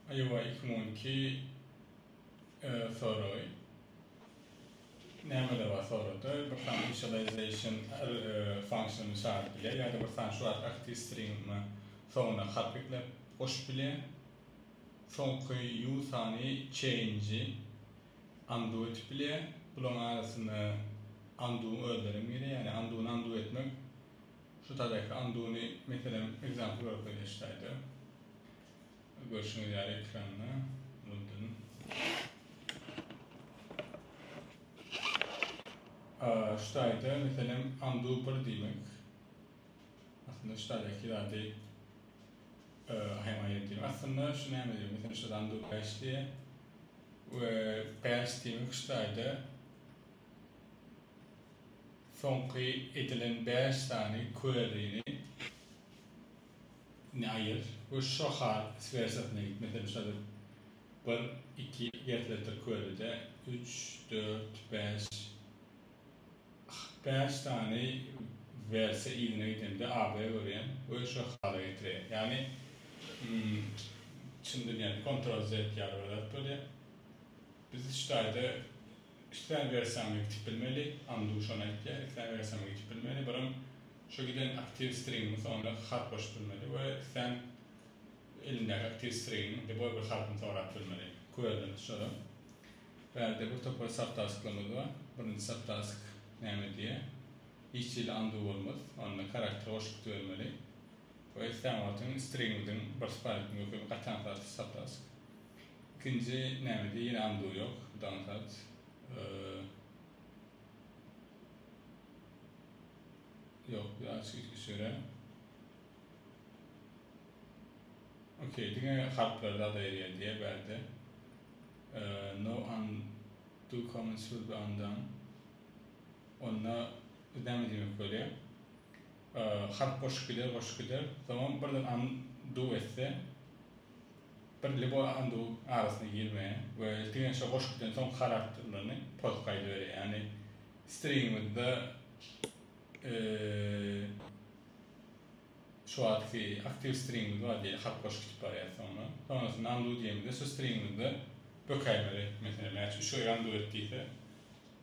Iowa iki müň on iki soragy nämeler bar sorada bir sany initialization function çagyryp bilýär ýa-da bir sany şu ady aktiw stringiňe soňuna harp ekläp goşup bilýär. Soňky ýu sany change-i undo etip bilýär. Bularyň arasynda undo-nyň özlerem girýär. Ýani undo-ny undo etmek Şu taýdaky anduny meselem ekzample bolup gelýär şu taýda. Görşüňiz ýaly ekranda unuldym. Şu taýda meselem andu bir diýmek. Aslynda şu taýdaky zady aýamaýan diýmek. Aslynda şu näme diýmek? Meselem şu andu bäş diýýär. We bäş diýmek şu taýda Soňky edilen bäş sany queryni indi aýyr we şo hal wersiýasyna git. Meselem, şo bir, bir, iki gertlekdir queryde üç, dört, bäş, bäş sany wersiýa yzyna gidende AB-ä görýän we şo hala getirýär. Ýagny çyn dünýäde kontrol-Z ýaly bir zat bolýar. Biz şu taýda Islän wersiýaňy ýitip bilmeli, Andu şony aýtýar, islän wersiýaňy ýitip bilmeli, birem şu giden aktiw stringiň soňuna harp goşup bilmeli we islän elindäki aktiw stringiň deboý bir harpyny sorap bilmeli. Göreli şolam. Bärde bir topar subtasklarymyz bar. Birinji subtask näme diýýär? Hiç hili andu bolmaz. Onda karakter goşgusy bermeli. Bu Estamatyň stringwidin bir spaýk möhüm gatan saty saptask. Ikinji nämede ýene undo ýok, down sat. Ýok, bu açyk içki süre. Okey, diňe harplar zada erýär diýýär bärde. No undo comments will be undone. Onda biz näme diýmek bolýar? Halk goşup gider, goşup gider. Soňam birden an duw etse, bir lbo an duw arasyna girmeýär we diňe şo goşup giden soňky harakterlerini pozup gaýdyberýär. Ýagny stringimizde şu wagtky aktiw stringimiz bar diýeli, halk goşup gidip barýar soňra. Soňrasynda an duw diýemizde şu stringimizde bökäýmeli. Meselem, mäçe üç gerek an duw et diýse,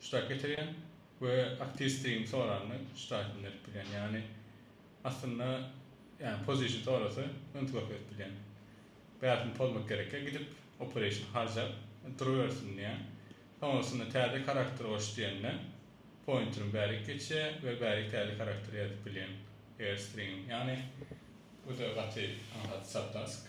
Ştat getirýän we aktistigiň soranyny ştat inderip bilýän. Ýagny aslynda ýagny pozişn sorasa men size okeý edip bilýän. Bärsin pozmak gerekkä gidip opereýşn harjap durubersin diýýän. Soňrasynda täze karakter goş diýende pointerim bärik geçýä we bärik täze karakter ýazyp bilýän eger stringim. Ýagny bu da gaty aňsat subtask.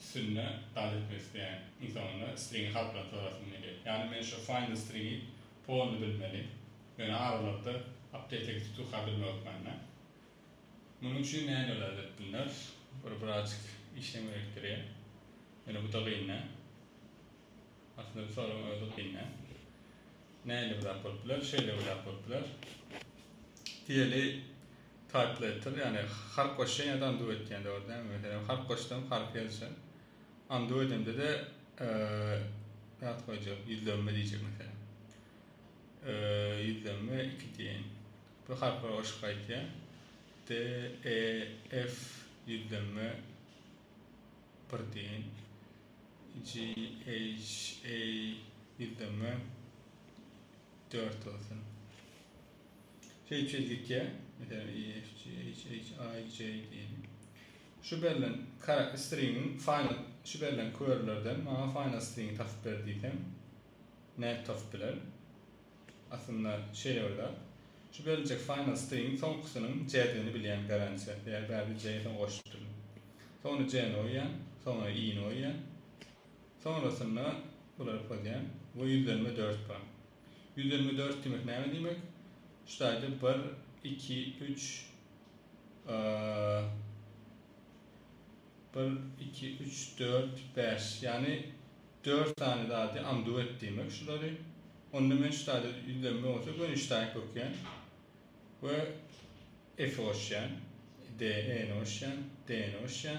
Üstünde dagy etmek isleýän ynsanymda stringi halklaryny sorasym gelýär. Ýagny men şo find the stringi polny bilmeli. Ýöne aralykda update-e gidip tuka bilme hökmanda. Munuň üçin näme edeli edip bilneris. Bir birazjyk işlem gerekdirýär. Ýöne bu-da gyn-da. Aslynda bu soragyň özi gyn-da. Näle bir zat bolup biler, şeýle bir zat bolup biler. Diýeli. Taýplaýtdyr, ýagny harp goşýan-da anduw etýän dogry däl. Meselem, harp goşdum, harpy ýazyjak. Anduw edemde-de zat goýjak, ýüzlenme diýjek meselem. Ýüzlenme iki diýeýin. Bu harplar goşup gaýtýar. D, E, F, ýüzlenme bir diýeýin. G, H, A, ýüzlenme dört bolsun. Teýpsiz gitýär. Meselem, EFG, HHI, J diýeli. Şu berlen karak stringiň final şu berlen körlerden maňa final stringi tapyp ber diýsem, nädip tapyp bilerin? Aslynda şeýle bir zat. Şu beriljek final stringiň soňkusynyň J-digini bilýän garantiýa. Eger bärde J-ni soň goşupdyryn. Soňra J-ni goýýan, soňra I-ni goýýan. Soňrasynda bulary pozýan we ýüzlenme dört bar. Ýüz ýigrimi dört diýmek näme diýmek? Şu taýda bir, iki, üç, bir, iki, üç, dört, bäş. Ýagny dört sany zady amdu et diýmek şulary. Onda men şu taýda ýüzlenme bolsa gönüşdäki kökýän we F-i goşýan, D-i-ni goşýan, D-ni goşýan.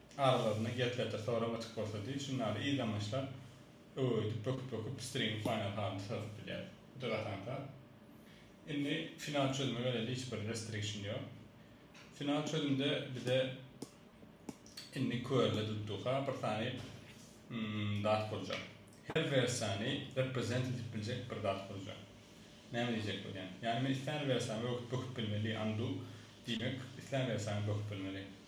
Aralarynda gepledir sorag açyk bolsa diý, şunda ýaly yzamaçlar öweýdip, böküp-böküp pstrigiň final halyny syryp bilýär. Bu da gaty aňsat. Indi final çözüme geleýli hiç bir restriction ýok. Final çözümde bize indi körle dutduha bir sany zat boljak. Her wersiýany represent edip biljek bir zat boljak. Näme diýjek bolýan? Ýagny men islän wersiýamy öwüt böküp bilmeli, undo diýmek, islän wersiýany böküp bilmeli.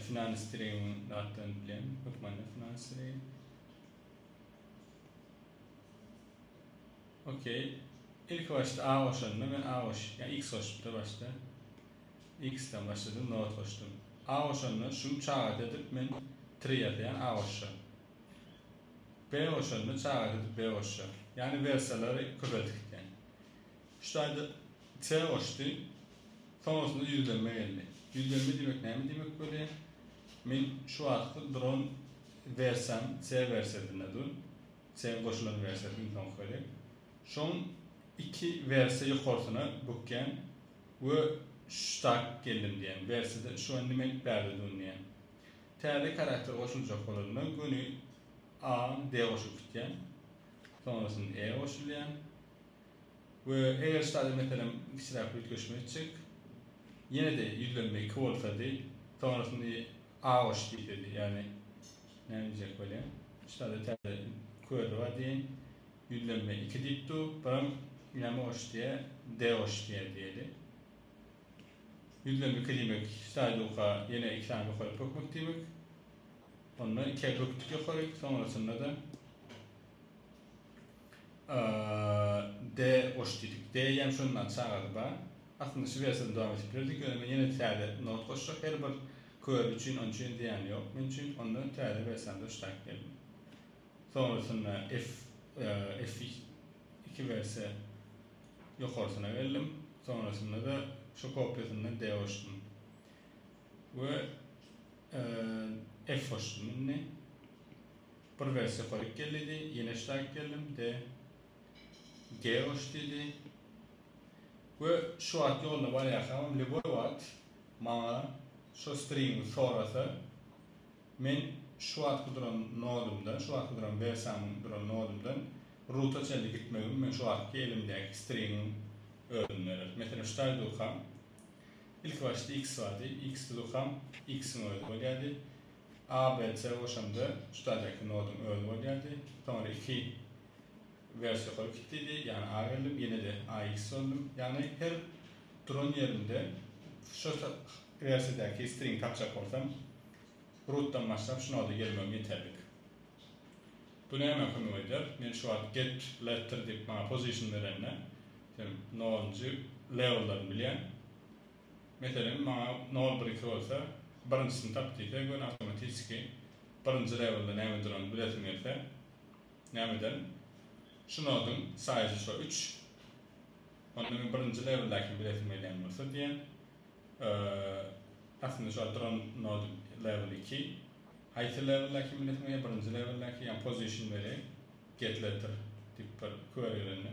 Finans Streaming datdan bilen hökmany Finans Streaming. Okey. Ilki başda A goşanda men A goş, ya X goşupda başda. X-den başladym, not goşdum. A goşanda şuny çagada edip men 3 ýazýan A goşja. B goşanda çagada edip B goşja. Yani versiýalary köpeldik eken. Şu taýda Çaý goşdy. Soňasynda ýüzlenme geldi. Ýüzlenme diýmek näme diýmek bolýar? Men şu wagtky duran wersiýam C wersiýasynda dur. C-iň goşulan wersiýasy iň soňky gezek. Şoň iki wersiýa ýokarsyna bükýän we şu tak geldim diýýän. Wersiýada şu indi men bärde dun diýýän. Täze karakter goşuljak bolanda göni A-a D goşup gitýän. Soňrasyny E goşulýan. We eger ştaly meselem kiçiräk üýtgeşme etjek, ýene-de ýüzlenme iki bolsady, soňrasyny aoş diýsedi, ýagny näme diýjek bolýan, ştaly täze köri bar diýeýin, ýüzlenme iki diýip dur, biraň näme oş diýýä, deoş diýýä diýeli. Ýüzlenme iki diýmek ştaýluka ýene iki sany bökeri bökmek diýmek. Onda ikiä bökdük ýokary, soňrasynda-da. D goş diýdik. D-ýem şonda aç çagada bar. Aslynda şu wersiýada dowam edip bilerdik, ýöne men ýene täze not goşjak her bir körüji üçin, onuň üçin zyýany ýok men üçin. Onda täze wersiýamda şu taýyp geldim. Soňrasynda F F iki wersiýa ýokarsyna geldim. Soňrasynda-da şu kopýasyndan D goşdum. We F goşdum indi. Bir welosipedlik gelidi, ýene ştaýk geldim, de Geoş diýdi we şu wagt ýolda barýarkamam lýuboý wagt maňa şo stringi sorasa, men şu wagtky duran nodumdan, şu wagtky duran welosipedimiň duran nodumdan ruta çenli gitmegimi men şu wagtky elimdäki stringiň özüni berer. Meselem, ştaý durkam, ilkibaşda X bardy, X-de durkam X-iň özi bolýardy. A bilen C goşanda şu taýdaky noduň özi bolýardy. Soňra iki wers ýokary gitdidi, ýagny A geldim, ýene-de AX boldum. Ýagny her duran ýerimde şu wersiýadäki stringi tapjak bolsam, rootdan başlap şu noda gelmegim ýeterlik. Bu nämä kömek edýär? Men şu wagt get letter diýip maňa position berende, sen nolunjy lewellaryny bilýän, Meselem, maňa nol birisi bolsa, birinjisini tap diýse, men awtomatişki birinji lewelde näme duranyny bilesim gelse, nämeden? Şu noduň saýyjy şo üç. Onda men birinji leweldäkini bilesim gelýän bolsa diýen, aslynda şu duran noduň leweli iki. Haýsy leweldäkini bilesim gelýär, birinji leweldäki, ýagny position where, get letter diýip bir query gelende.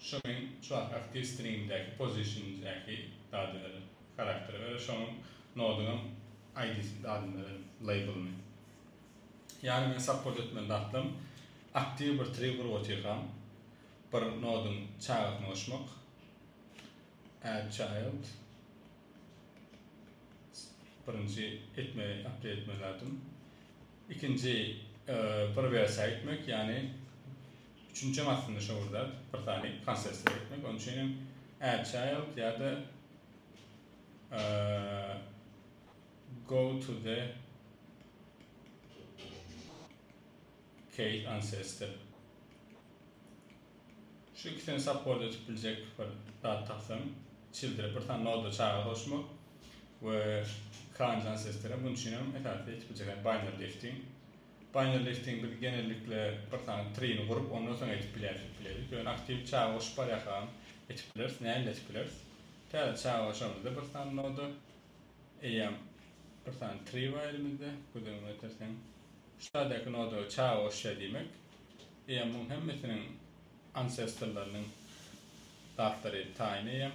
Şu men çuwak aktiw stringdäki position'däki dady berdim. Charakter we şonuň nodunyň ID-sini dadyny berdim, label'yny. Ýagny men support etmeli datlam aktiw bir tree gurup otyrkam bir noduň çagasyny goşmak add child birinji etmeli update etmeli datym. Ikinji bir wersiýa etmek ýagny Üçünjem aslynda şo bir zat, bir sany konsert seretmek, onuň üçin hem AdChild ýa-da Go to the Case Ancestor. Şu ikisini support edip biljek bir zat tapsam, Childre bir sany noda çaga goşmak we Kranj Ancestor hem munuň üçin hem esasy edip biljek zat, Binary Lifting. Final listing biz genellikle bir sany trini gurup ondan soň edip bileris diýip bileris. Ýöne aktiw çaga goşup barýakam edip bileris, nähili edip bileris. Täze çaga goşamyzda bir sany noda eýýäm bir sany tri bar elimizde gözüňe ýetirseň. Şu täzeki noda çaga goşýar diýmek. Eýýäm muň hemmesiniň ancestorlarynyň zatlary taýyn eýýäm.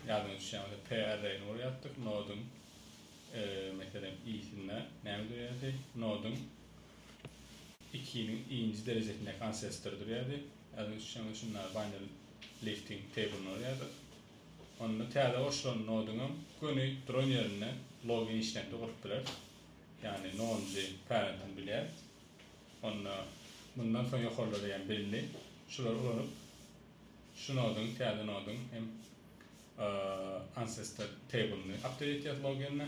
Ýadyňa düşýäň bolsa p array-ny gurýartdyk, nodyň. Meselem, i-sinde näme durýardy? Noduň ikiniň i-nji derejesindäki ansestor durýardy. Ýa-da şoňa şunda binary lifting table-ny urýardyk. Onda täze goşulan noduň hem göni duran ýerinde log initiator gurup bileris. Ýagny nonunjy parent-ini bilýäris. Onda mundan soň ýokarlary hem belli. Şulary ulanyp Şu nodyň, täze nodyň hem ancestor table'yny update etýäs loginde.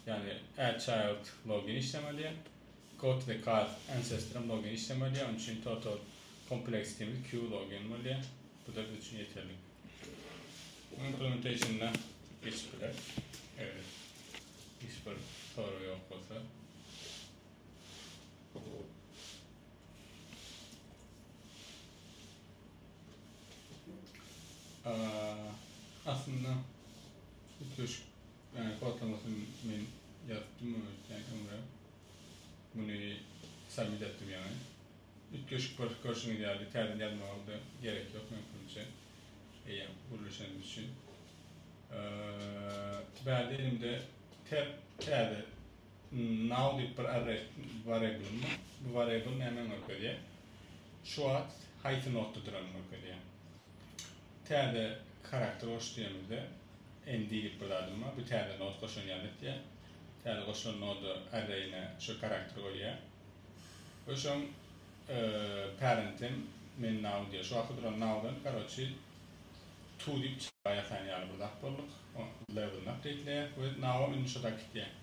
Ýagny add child login işlemeli. Go to the card ancestor hem login işlemeli. Onuň üçin total kompleksitimiz Q login bolýar. Bu-da biz üçin ýeterli. Implementation'da geçip bileris. Eger hiç bir sorag ýok bolsa. Aslynda üýtgeşik ýany kodlamasyny men ýazypdym muny öýtýän öňe. Muny submit etdim ýaňy. Üýtgeşik bir görşüňiz ýaly täzeden ýazmaga-da gerek ýok mümkinçe. Eýýäm gürleşenimiz üçin. Bärde elimde tab täze Now diýip bir arrest wariablyň bar. Bu wariabl nämäni görkezýär? Şu wagt haýsy notda duranyny görkezýär. Täze karakter goş diýemizde nd diýip bir zadym bar. Bu täze not goşan ýaly etýär. Täze goşulan noda arraýine şu karakteri goýýar. We şoň parentim men now diýýär. Şu wagtky duran nowdan karoçi to diýip çykyp ýatan ýaly bir zat bolduk. Level-ni apdeýtleýär we nowam indi şo zat gitýär.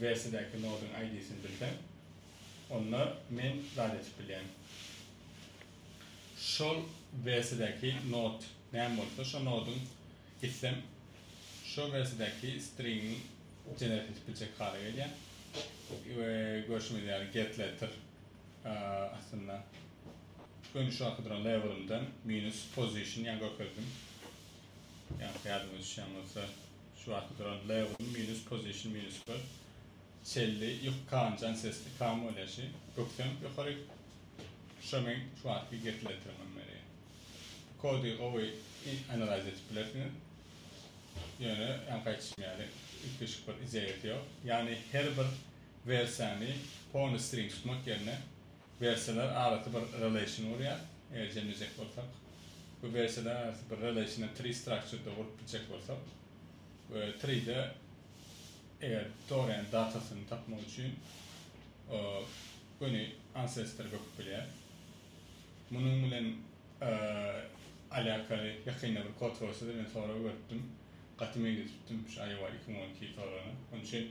wersiýadäki nodyň ID-sini bilseň, onda men zat etip bilýän. Şol wersiýadäki nod näme bolsa, şo nodyň gitsem, şo wersiýadäki stringiň generate edip biljek hala gelýän. We görşüňiz ýaly getLetter astynda göni şu wagtky duran labelymdan minus position ýa görkezdim. Ýa-da ýadyňyza düşýän bolsa. Şu wagt duran Leoň minus position minus bir çelli ýok kanjan sesli kam bolýa şi bökseň ýokaryk şo meň şu wagtky gekleterimem meni kody gowy analiz edip bilersiňiz ýöne ýaňky aýtşym ýaly üýtgeşik bir ideýa ýok ýagny her bir wersiýany pony string tutmak ýerine Wersiýalar arasy bir relation gurýar, eger jemlejek bolsak. Bu wersiýalar arasy bir relationy tree structure-da gurup biljek bolsak we tree-de eger toryň datasyny tapmak üçin göni ancestor böküp bilýär. Munuň bilen alakaly ýakynda bir kod forsa-da men sorag beripdim. Gaty meňzeşipdim şu IOA iki müň on iki soragyna. Onuň üçin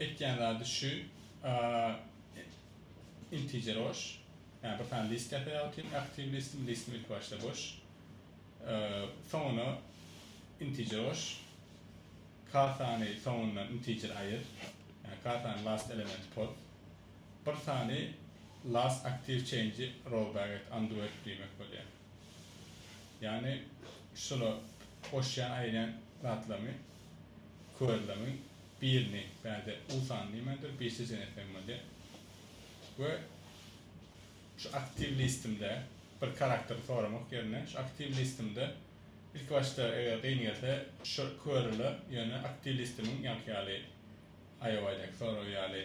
Etýän zady şu integer boş. Ýa bir sany list ýasaýar otyryn aktiw listim listim ilki başda boş. Soňuna integer boş. Kasany soňundan integer aýyr. Ýa kasany last element pos. Bir sany last aktiw change row back et undo et diýmek bolýar. Ýagny şular goşýan aýylýan zatlarymy körlerimiň birini bärde Usan diýmändir birisi Jenepem bolýar we şu aktiw listimde bir karaktery soramak ýerine şu aktiw listimde ilki başda eger gyn gelse şu körüler ýöne aktiw listimiň ýaňky ýaly aýowaýdaky soragy ýaly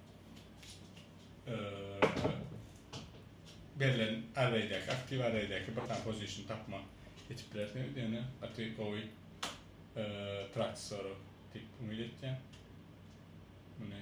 berlen arraýdaky aktiw arraýdaky bir sany pozisiýony tapmak geçip bilersiňiz ýöne gaty gowy praktis sorag diýip umyt etýän muny